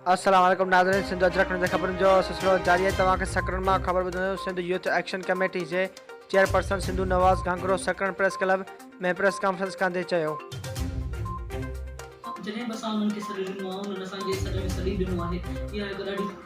السلام عليڪم ناظرين سنڌ اجرڪ نيوز جي خبرن جو سلسلو جاري آهي توهان کي سڪرنڊ مان خبر ٻڌايون سنڌ يوٿ ايڪشن ڪميٽي جي chairperson Sindhu Nawaz Ghangro Sakrand press club ۾ press conference ڪندي چيو جڏهن به اسان انهن کي سڏ ڏنو آهي انهن اسان کي سڏ ۾ سڏ ئي ڏنو آهي اها هڪ ڏاڍي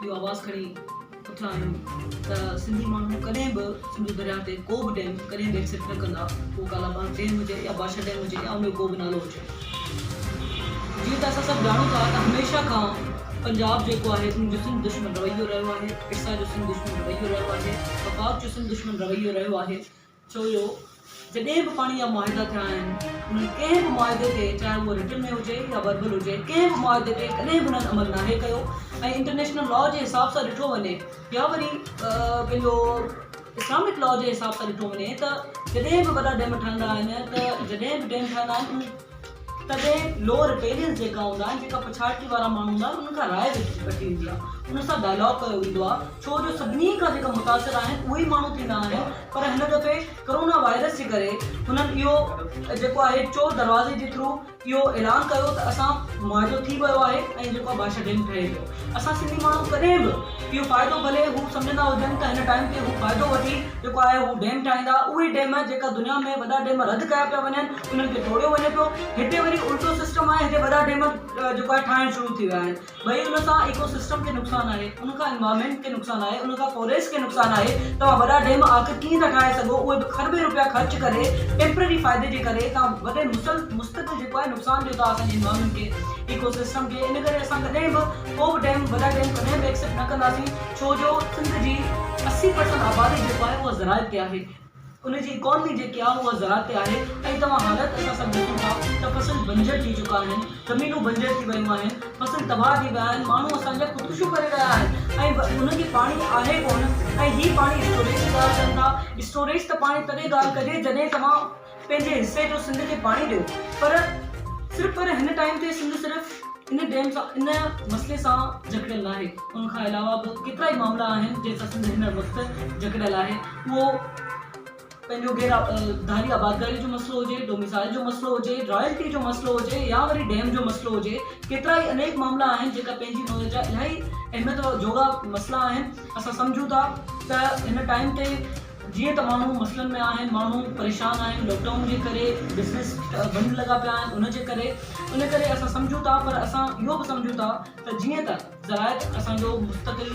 اهو آواز کڻي اٿيا آهيون ته سنڌي ماڻهو ڪڏهن به سنڌو درياهه تي ڪو به ڊيم ڪڏهن به ايڪسيپٽ نه ڪندا پوء ڪالاباغ ڊيم هجي يا بادشاهه ڊيم هجي يا ان جو ڪو به نالو هجي جيئن ته اسان سڀ ڄاڻون ٿا ته هميشه کان پنجاب جيڪو آهي ان جو سنڌ دشمن رويو رهيو آهي ارسا جو سنڌ دشمن رويو رهيو آهي وفاق جو سنڌ دشمن رويو رهيو آهي ڇو جو جڏهن به پاڻي جا معاهدا ٿيا آهن انهن ڪنهن به معاهدي تي چاهي اهو رٽن ۾ هجي يا وربل هجي ڪنهن به معاهدي تي ڪڏهن به انهن عمل ناهي ڪيو ۽ انٽرنيشنل لا جي حساب سان ڏٺو وڃي يا وري پنهنجو اسلامڪ لا جي حساب سان ڏٺو وڃي ته جڏهن به وڏا ڊيم ٺهندا آهن ته جڏهن به ڊيم ٺهندا آهن تڏهن لو رپيلينس جيڪا هوندا آهن جيڪا پڇاڙڪي وارا ماڻهو هوندا آهن انهن کان راء وٺي ويندي آهي انهن سان ڊائلاگ ڪيو ويندو آهي ڇو جو سڀني کان جيڪا متاثر آهن اهي ئي ماڻهو ٿيندا آهن پر هن دفعي ڪرونا وائرس جي ڪري هنن اهو جيڪو آهي چور دروازي جي ٿرو اهو اعلان ڪيو ته اسان معاهدو ٿي ويو آهي ۽ جيڪو آهي بادشاهه ڊيم ٺهي ويو اسان سنڌي ماڻهو ڪڏهن به اهو فائدو ڀلي هو سمجهندا هجن ته هن ٽائيم تي هو فائدو وٺي جيڪو آهي هو ڊيم ٺاهيندا اهي ڊيم جيڪا دنيا ۾ وڏا ڊيم رد ڪيا پيا وڃن انهن کي جوڙيو وڃي پيو هتي وري الٽو سسٽم آهي هتي وڏا ڊيم جيڪو آهي ٺاهڻ شروع ٿي ويا آهن ڀئي ان سان ايڪو سسٽم کي نقصان آهي ان کان انوائرمينٽ کي نقصان آهي ان کان فوريسٽ کي نقصان آهي توهان وڏا ڊيم آخر ڪيئن ٿا ٺاهي سگهو اهي به کربين روپيا خرچ ڪري ٽيمپرري فائدي جي ڪري توهان وڏي مسل مستقل جيڪو آهي نقصان ڏيو ٿا اسانجي انوائرمينٽ کي ايڪو سسٽم کي ان ڪري اسان ڪڏهن به ڪو به ڊيم وڏا ڊيم ڪڏهن به ايڪسيپٽ نه ڪنداسين ڇو جو سنڌ جي اسي پرسنٽ آبادي جيڪو آهي اهو زراعت تي آهي ان جي اڪانومي جيڪي آهي اها زراعت تي آهي ۽ توهان حالت اسان سڀ ڏسون ٿا ته فصل بنجر ٿي چڪا آهن زمينون بنجر ٿي ويون آهن فصل تباهه ٿي ويا آهن ماڻهو اسان جا خودڪشيون ڪري رهيا آهن ۽ انهن کي پاڻي آهي ڪونه ۽ هي پاڻي اسٽوريج جي ڳالهه ڪن ٿا اسٽوريج ته پاڻي تڏهن ڳالهه ڪجي جڏهن توهان پنهنجي حصي جو سنڌ کي پاڻي ڏيو پر صرف پر هن ٽائيم تي سنڌ صرف ان ڊيم سان ان مسئلي سان جڪڙيل ناهي ان کان علاوه به ڪيترا ئي معاملا آهن جن سان سنڌ هن وقت جڪڙيل آهي اهو پنهنجو غير ڌاري آبادگاري جو مسئلو هجي ڊوميسائل جو مسئلو هجي رائلٽي جو مسئلو هجي يا وري ڊيم جو مسئلو هجي ڪيترا ئي انيڪ معاملا آهن جيڪا پنهنجي نوعيت جا الاهي اهميت جوڳا مسئلا آهن اسان سمجهون ٿا ته هن ٽائيم تي جيئن ته ماڻهو مسئلن ۾ آهن، ماڻهو پريشان آهن، لاڪ ڊائون جي ڪري بزنس بند لڳا پيا آهن ان جي ڪري ان ڪري اسان سمجهون ٿا پر اسان اهو به سمجهون ٿا ته جيئن ته زراعت اسان جو مستقل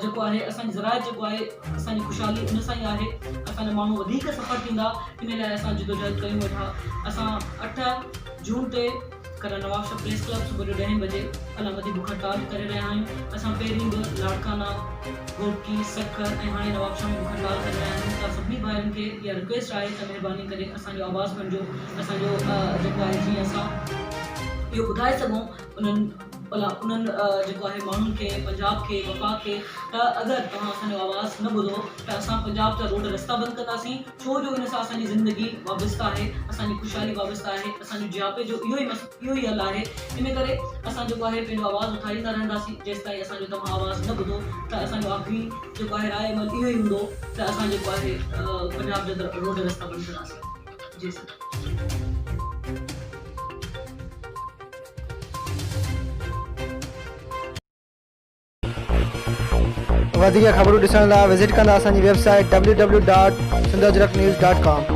جيڪو آهي اسان جي زراعت جيڪو آهي اسان جي خوشحالي ان سان ئي آهي اسان جا ماڻهو وڌيڪ سفر ٿيندا ان لاء اسان جدوجهد ڪيون ويٺا اسان اٺ جون تي ڪلا نوابشاهه پريس ڪلب صبح جو ڏهين بجي علامتي بک هڙتال ڪري رهيا آهيون اسان پهرين به لاڙڪانا گهوٽڪي سکر ۽ هاڻي نوابشاهه ۾ بک هڙتال ڪري رهيا آهيون ته سڀني ڀائرن کي اها رڪويسٽ آهي ته مهرباني ڪري اسان جو آواز بڻجو اسان جو جيڪو آهي جيئن اسان اهو ٻڌائي سگهون انهن بلا انهن جيڪو آهي ماڻهن کي پنجاب کي وفاق کي ته اگر توهان اسان جو آواز نه ٻڌو ته اسان پنجاب جا روڊ رستا بند ڪنداسين ڇو جو ان سان اسان جي زندگي وابسته آهي، اسان جي خوشحالي وابسته آهي، اسان جو جياپي جو اهو ئي مس اهو ئي حل آهي، ان ڪري اسان جيڪو آهي پنهنجو آواز اٿاريندا رهنداسين، جيستائين اسان جو توهان آواز نه ٻڌو ته اسان جو آخري جيڪو آهي راء عمل اهو ئي هوندو ته اسان جيڪو آهي پنجاب جا روڊ رستا بند ڪنداسين. جي سر. وڌيڪ خبرون ڏسڻ لاء وزٽ ڪندا اسان جي website W W dot Sindh Ajrak news dot ڪام